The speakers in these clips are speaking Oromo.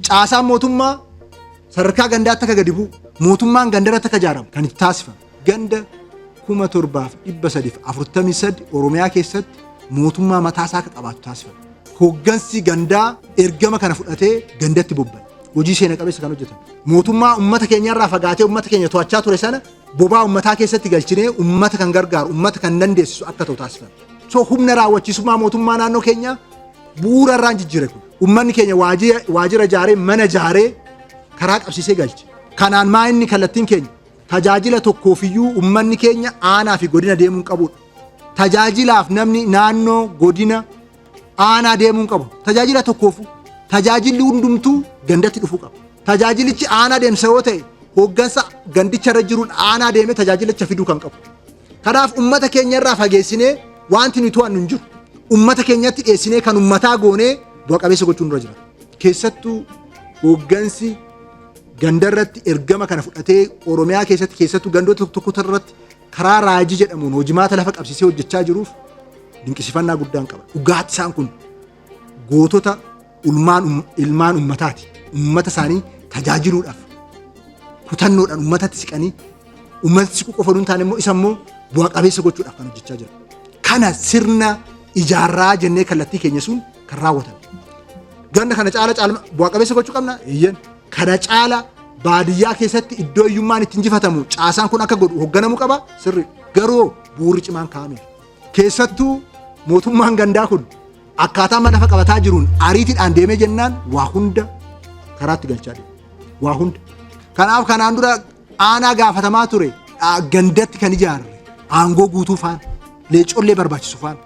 Caasaan mootummaa sadarkaa gandaatti akka gadi bu'u mootummaan gandarratti akka ijaaramu kan itti taasifame ganda 7343 Oromiyaa keessatti mootummaa mataa isaa akka qabaatu taasifame. Hooggansi gandaa ergama kana fudhatee gandatti bobba'e. Hojii seena qabeessa kan hojjetan. Mootummaa uummata keenyarraa fagaatee uummata keenya to'achaa ture sana bobaa uummataa keessatti galchinee uummata kan gargaaru uummata kan dandeessisu akka ta'u taasifame. So humna raawwachiisummaa mootummaa naannoo keenyaa bu'uura irraan jijjiire kun. Ummanni keenya waajjira ijaaree mana ijaaree karaa qabsiisee galche. Kanaan maa inni kallattiin keenya tajaajila tokkoofiyyuu ummanni keenya aanaa fi godina deemuun qabudha. Tajaajilaaf namni naannoo godina aanaa deemuun qabu tajaajila tokkoofu tajaajilli hundumtuu gandatti dhufuu qaba. Tajaajilichi aanaa deemsa yoo ta'e hooggansa gandicha irra jiruun aanaa deemee tajaajilicha fiduu kan qabu. Kanaaf ummata keenya irraa fageessinee wanti nuti to'annu hin jiru. Ummata keenyatti dhiyeessinee kan ummataa goonee bu'a qabeessa gochuun irra jira. Keessattuu hooggansi ganda irratti ergama kana fudhatee Oromiyaa keessatti keessattuu gandoota tokko tokko irratti karaa raajii jedhamuun hojimaata lafa qabsiisee hojjechaa jiruuf dinqisifannaa guddaan qaba. Dhugaatti isaan kun gootota Ulmaan um- ilmaan ummataati. Ummata isaanii tajaajiluudhaaf kutannoodhaan ummatatti siqanii ummatatti siquu qofa hin taane immoo isa immoo bu'a qabeessa gochuudhaaf kan hojjechaa jiru. Kana sirna ijaarraa jennee kallattii keenya sun kan raawwatan. Ganna kana caala caalma bu'a qabeessa gochuu qabna. Eeyyeen. Kana caala baadiyyaa keessatti iddoo hiyyummaan itti injifatamu caasaan kun akka godhu hoogganamuu qaba sirri garuu bu'uurri cimaan kaa'ameera. Keessattuu mootummaan gandaa kun Akkaataa amma lafa qabataa jiruun ariitiidhaan deemee jennaan waa hunda karaatti galchaa deema. Waa hunda. Kanaaf kanaan dura aanaa gaafatamaa ture dha- gandatti kan ijaarre aangoo guutuu faana leecollee barbaachisu faana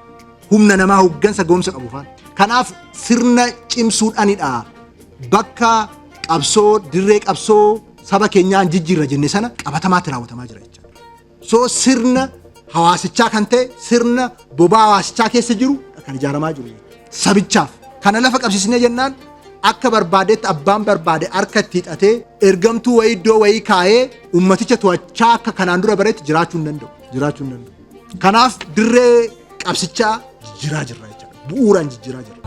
humna namaa hoggansa ga'umsa qabu faana. Kanaaf sirna cimsuudhaanidha bakka qabsoo dirree qabsoo saba keenyaan jijjiirra jenne sana qabatamaatti raawwatamaa jira jechuudha. Soo sirna hawaasichaa kan ta'e sirna bobaa hawaasichaa keessa jiru kan ijaaramaa jiru sabichaaf. Kana lafa qabsiisnee jennaan akka barbaadetti abbaan barbaade harka itti hidhatee ergamtuu wayii iddoo wayii kaa'ee ummaticha to'achaa akka kanaan dura baretti jiraachuu hin danda'u. Jiraachuu hin danda'u. Kanaaf dirree qabsichaa jijjiiraa jirra jechuudha. Bu'uuraan jijjiiraa jirra.